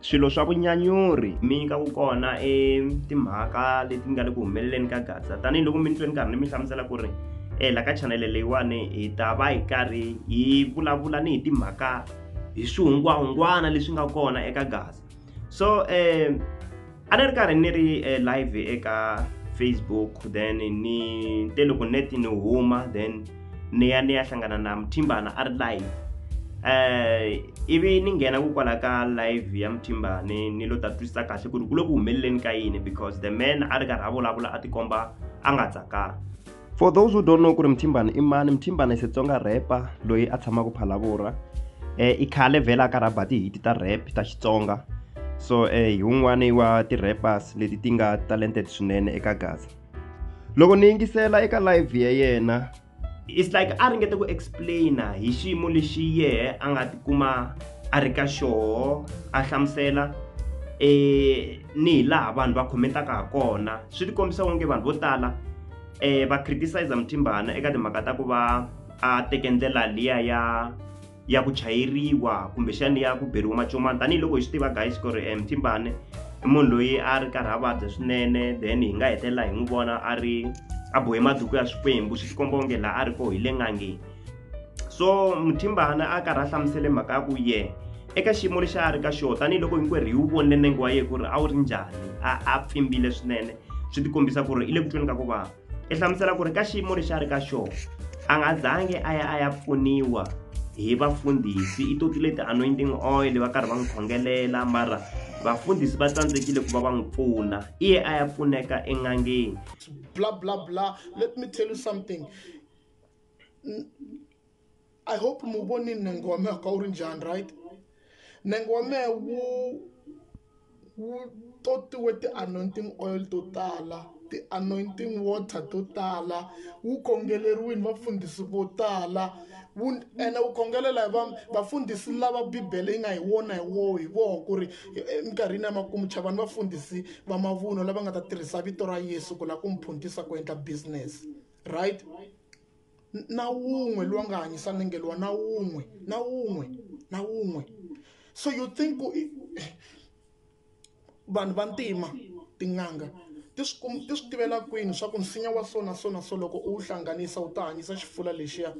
swilo swa vunyanyuri mi nyika ku kona e timhaka leti nga le ku humeleleni ka gaza tanihiloko mi ni tweni karhi ni mi hlamusela ku ri e la ka chanele leyiwani hi ta va hi karhi hi vulavula ni hi timhaka hi swihungwahungwana leswi nga kona eka gaza so um a ni ri karhi ni ri e, live eka facebook then ni te loko net ni huma then ni ya ni ya hlangana na muthimbana a ri live eh ivi ni nghena ku kwala ka live ya muthimbane ni lo ta twisisa kahle ku ri ku le ku humeleleni ka yini because the man a ri karhi a vulavula a tikomba a nga tsakanga for those who don't know ku ri muthimbane i mani muthimbane i xitsonga rapper loyi a tshamaka phalavura eh i khale vhela a karhi a ba tihiti ta rap ta xitsonga so eh hi wun'wani wa ti-rappers leti ti nga talented swinene eka gaza loko ni yingisela eka live ya yena it's like a ringete ku explaina hi xiyimo lexi yehe a nga tikuma a ri ka xoho a hlamusela eh ni hi laha vanhu va khomentaka ha kona swi tikombisa onge vanhu vo tala eh va criticize muthimbana eka timhaka ta ku va a teke ndlela liya ya ya ku chayeriwa kumbexani ya ku beriwa macomani tanihiloko hi swi tiva guys ku ri um thimbane i munhu loyi a ri karhi a vabya swinene then hi nga hetelela hi n'wi vona a ri a bohe maduku ya swikwembu swi tikomba onge laha a ri koho hi le ngangeni so muthimbane a karhi a hlamusele mhaka ya ku ye eka xiyimo lexi a ri ka xona tanihiloko hinkwerhu hi wu vonile nenge wa yena ku ri a wu ri njhani a a pfimbile swinene swi tikombisa ku ri i le ku tweni ka ku vava i hlamusela ku ri ka xiyimo lexi a ri ka xona a nga zangi a ya a ya pfuniwa hi vafundhisi i toti leti anointing oil va karhi va n'wi khongelela mara vafundhisi va tsandzekile ku va va n'wi pfuna iye a ya pfuneka en'angeni bla bla bla let me tell you something i hope mi wu vonile nengo wa mehe ka wu ri njhani right nengo wa mehe wu wu totiwe ti-anointing oil to tala ti-anointing water to tala wu kongeleriwile vafundhisi vo tala wu ene wu kongelela hi va vafundhisi lava bibele yi nga hi wona hi wo hi voho ku ri eminkarhini ya makumu chavani vafundhisi va mavuno lava nga ta tirhisa vito ra yesu ku lava ku mi phuntisa ku endla business right na wun'we loyi a nga hanyisa nengeliwa na wun'we na wun'we na wun'we so you think ku vanhu va ntima tin'anga ti swi kum ti swi tivela kwini swa ku nsinya wa so na so na so loko u wu hlanganisa wu ta hanyisa xifula lexiya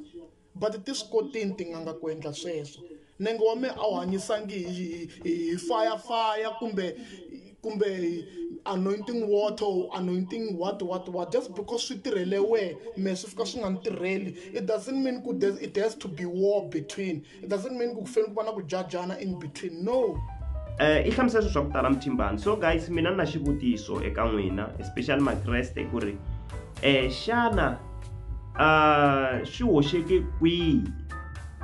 but ti swi kotini tin'anga ku endla sweswo Nenge wa mina a wu hanyisangi hi, hi, hi, hi fire fire kumbe kumbe anointing water or anointing what what what just because swi tirhele wehe me swi fika swi nga ni tirheli it doesn't mean ku there's- it has to be war between it doesn't mean ku ku fanele ku va na ku jajana in between no Eh, i hlamusela swilo swa ku tala muthimbani so guys mina ni na xivutiso eka n'wina especially makreste ku ri um xana uh, swi hoxeke kwihi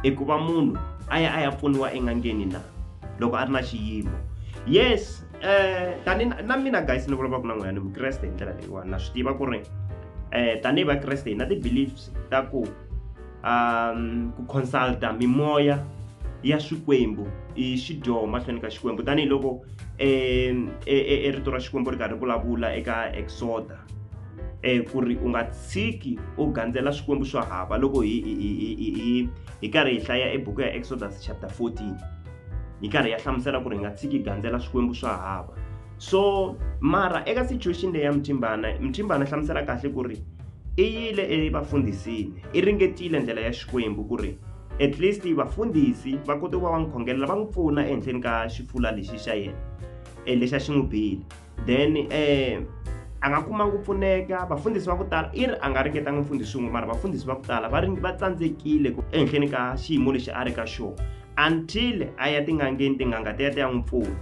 eku va munhu a ya a ya pfuniwa en'angeni na loko a ri na xiyimo yes eh tani na mina guys ni vulavulaka na n'wina ni vukreste hi ndlela leyiwani na swi tiva ku ri eh tanihi vakreste hi na ti-beliefs ta ku um ku consulta mimoya ya swikwembu i xidyoho mahlweni ka xikwembu tanihiloko um e, e, e, rito ra xikwembu ri karhi vulavula eka exoda um ku ri u nga tshiki u gandzela swikwembu swo hava loko hi hi hi hi hi hi karhi hi hlaya ebuku ya exodus chapter 14 hi karhi ya hlamusela ku ri hi nga tshiki hi gandzela swikwembu swo hava so mara eka situation leyi ya muthimbana muthimbana hlamusela kahle ku ri i yile evafundhisini i ringetile ndlela ya xikwembu ku ri at least vafundhisi va kote ku va va n'wi khongelela va n'wi pfuna ehenhleni ka xifula lexi xa yena um lexi a xi n'wi bile then um a nga kumanga ku pfuneka vafundhisi va ku tala i ri a nga ringetanga mfundhisi wun'we mara vafundhisi va ku tala va ri va tsandzekile ehenhleni ka xiyimo lexi a ri ka xona until a ya tingangeni tinganga ti ya ti ya n'wi pfuna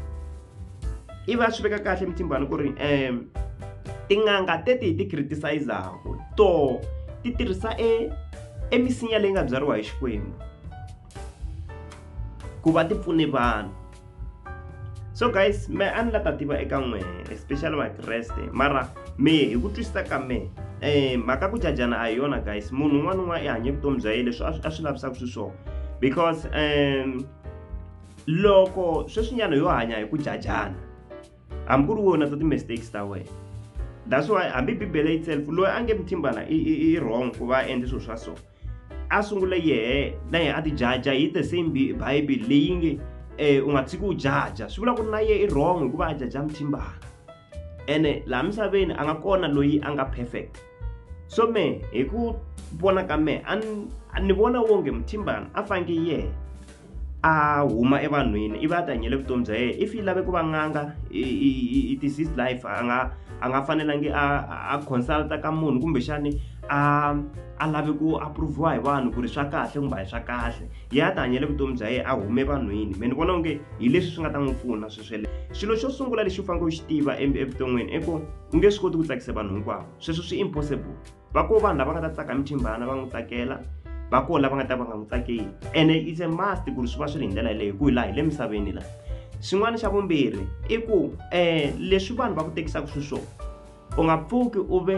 i va swi veka kahle mitimbani ku ri um tin'anga teti hi ti criticizaku to ti tirhisa e emisinya leyi nga byariwa hi xikwembu ku va ti pfune vanhu so guys me a ni la ta tiva eka n'wehe especially vakreste mara mehe hi ku twisisa ka mehe um mhaka ku jajana a hi yona guys munhu un'wana un'wana i hanye vutomi bya ye leswi a swi lavisaka swi swona because um loko sweswinyana yo hanya hi ku jajana hambi ku ri wona ta ti-mistakes ta wena that's why hambi bibele itself loyi a nge muthimbana i wrong ku va a endle swilo swa so a sungule yehe na yehe a ti jaja hi the same bible leyi nge um u nga tshiki u jaja swi vula ku ri na yehe i wrong hikuva a jaja muthimbana ene laha misaveni a nga kona loyi a nga perfect so me hi ku vona ka mehe a ni vona wonge muthimbana a fange yehe a huma evanhwini ivi a ti hanyele vutomi bya yena if yi lave ku va n'anga it is his life a nga a nga fanelangi a a consulta ka munhu kumbexani a a lavi ku approviwa hi vanhu ku ri swa kahle kumbe hi swa kahle yi a ti hanyele vutomi bya yena a hume vanhwini me ni vona onge hi leswi swi nga ta n'wi pfuna sweswele xilo xo sungula lexi u faneleke u xi tiva evuton'wini i ku u nge swi koti ku tsakisa vanhu hinkwavo sweswo swi impossible va ko vanhu lava nga ta tsaka mithimbana va n'wi tsakela va ko lava nga ta va nga n'wi tsakeli ene is a must ku ri swi va swi ri hi ndlela yeleyo hi ku hi laha hi le misaveni laha xin'wana xa vumbirhi i ku um leswi vanhu va ku tekisaka swi swona u nga pfuki u ve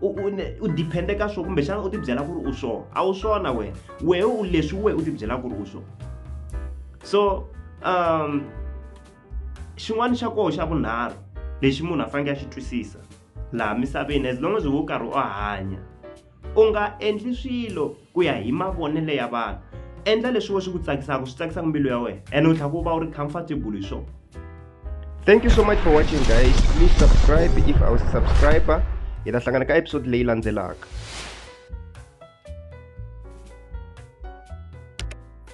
u depende ka swona kumbexana u tibyela ku ri u swona a wu swona wena wehe u leswi wehe u tibyela ku ri u swona so um xin'wana xa koho xa vunharhu lexi munhu a faneke a xi twisisa laha misaveni as long as wo karhi u hanya u nga endli swilo ku ya hi mavonelo ya vanhu endla leswi wo swi ku tsakisaka swi tsakisaka mbilu ya wena ene u tlhela ku va u ri comfortable hi swona thank you so much for watching guys please subscribe if i was a subscriber hi ta hlangana ka episode leyi landzelaka